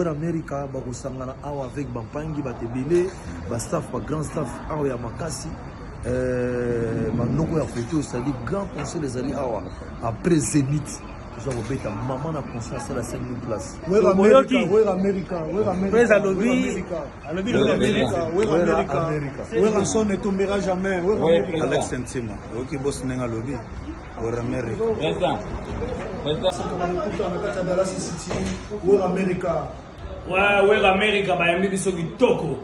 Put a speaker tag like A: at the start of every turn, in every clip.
A: amerika bakosangana awa avec bampangi bato ebele bastaff bagrand staff awa ya makasi banoko ya foto osali grand conseil ezali awa après zenith toza kobeta mama na conscience alasaki place
B: alobi lobi amerika wera amerika wera son etombera jamais alex
A: ntima oyoki bosi ndenge alobi wera amerika
B: wera amerika wera
C: amerika bayambi biso kitoko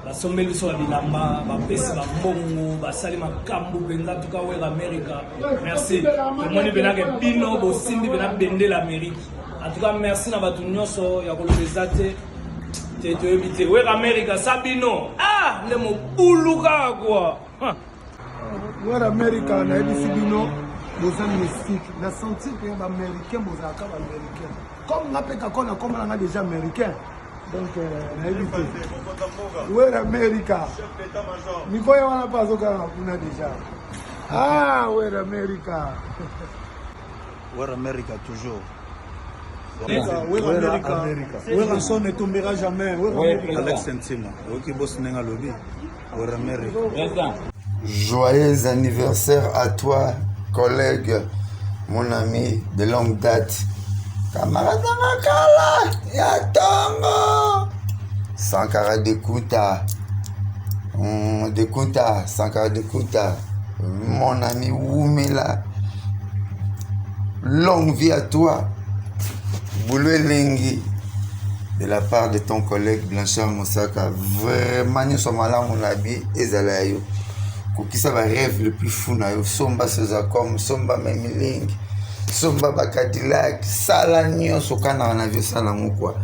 C: basombeli biso ya bilamba bapesi bambongo basali makambo mpenza tuka wera amerika merci tomoni mpenake bino bosimbi mpena bendela amerika en tout cas merci na bato nyonso ya koloba eza te te toyebi te weka amerika sa bino ah nde mobulu kaka kua
B: wera amerika nayebisi bino boza mystique na sentir mpe baaméricain bozalaka baaméricain comme nga mpe kako na komona nga déjà américain donc euh, nayebi te wera amerika mikoya wana mpe azokanga kuna déjà ah wera amerika
A: Where America toujours.
B: werasone etombera jamais alex ntima
A: oyoki bosi ndenge alobi weramerika joyeux
D: anniversaire à toi collègue mon ami de longue date camarade nanga kala ya tongo sankara dekuta hmm, dekuta sankara dekuta mon ami wumela Longue vie à toi. Boulot elengi de la part de ton collègue Blanchard Mosaka. Vraiment nyonso malamu na bi ezala ya yo. Kokisa ba rêve le plus fou na yo. Somba Sozacom, somba Memiling, somba ba Cadillac, sala nyonso kana na vie sala ngo quoi.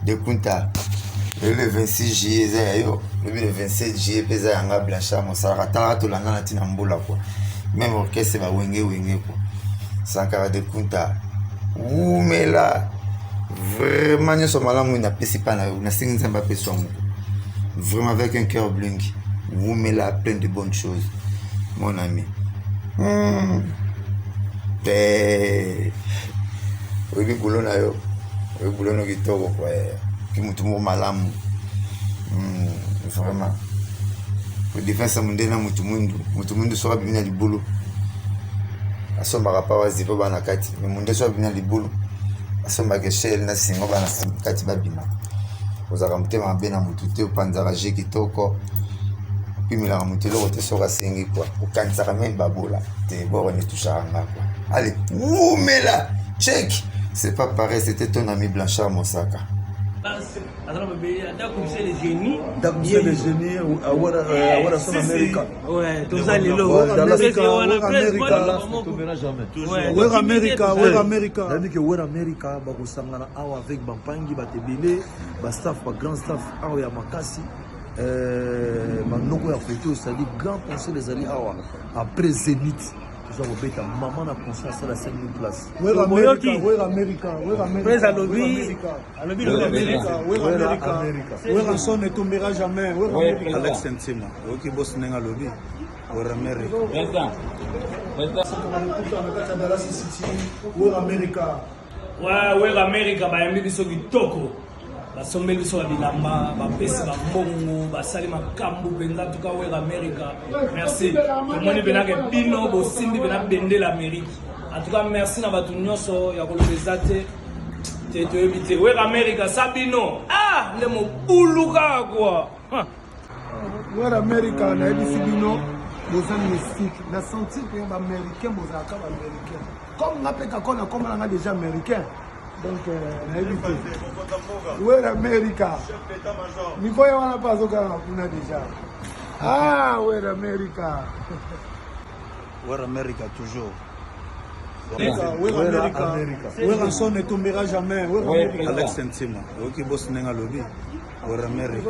D: De Kunta. Le 26 juillet eza ya yo. Le 27 juillet peza yanga Blanchard Mosaka. Tala tolanda na tina mbula quoi. meme orchestre ba wenge wenge ko sankara de kunta wumela vraiment nyonso malamu oyo napesi epai na yo nasengi nzambe apesa yango vraiment avec un cœur blingi wumela plein de bonnes choses mon ami hmm. te oyebi bulo na yo oyebi bulo no kitoko kwa ki motu moko malamu hmm, vraiment defense munde na mutu mwindu mutu mwindu soki abimi na libulu asombaka pawa zipo bana kati me munde soki abimi na libulu asombaka eshel na singo bana kati babima ozalaka motema mabe na mutu te opanzaka je kitoko opimelaka moto eloko te soki asengi kua okanisaka meme babola te boko netushaka nga kua ale wumela cheki c'est pas pareil c'était ton ami blanchard mosaka
A: amerika bakosangana awa avec bampangi bato ebele bastaff bagrand staff awa ya makasi euh, manoko ya foto osali grand conseil ezali awa après zenith toza kobeta mama na conscience asala 5000 place
B: alobi lobi amerika wera amerika wera son etombera jamais wera alex ntima
A: oyoki bosi ndenge alobi wera amerika
B: wera amerika wera
C: amerika bayambi biso kitoko basombeli biso ya bilamba bapesi bambongo basali makambo mpenza tuka wera amerika merci omoni mpenake bino bosimbi mpena bendela amerika En tout cas merci na batu nyoso ya koloba eza te te toyebi te wera america sabino ah nde mobulu kaka kua
B: wera america nayebisi bino boza mystique na senti mpe baaméricain bozalaka baaméricain comme nga mpe kako nakoma na nga déjà américain donc euh, nayebi te wera america niko ye wana mpe azokanga kuna déjà ah wera america
A: Wera America toujours.
B: Werrason ne tombera jamais.
A: Alex
B: Ntima,
A: oyoki bosi ndenge alobi Wera America.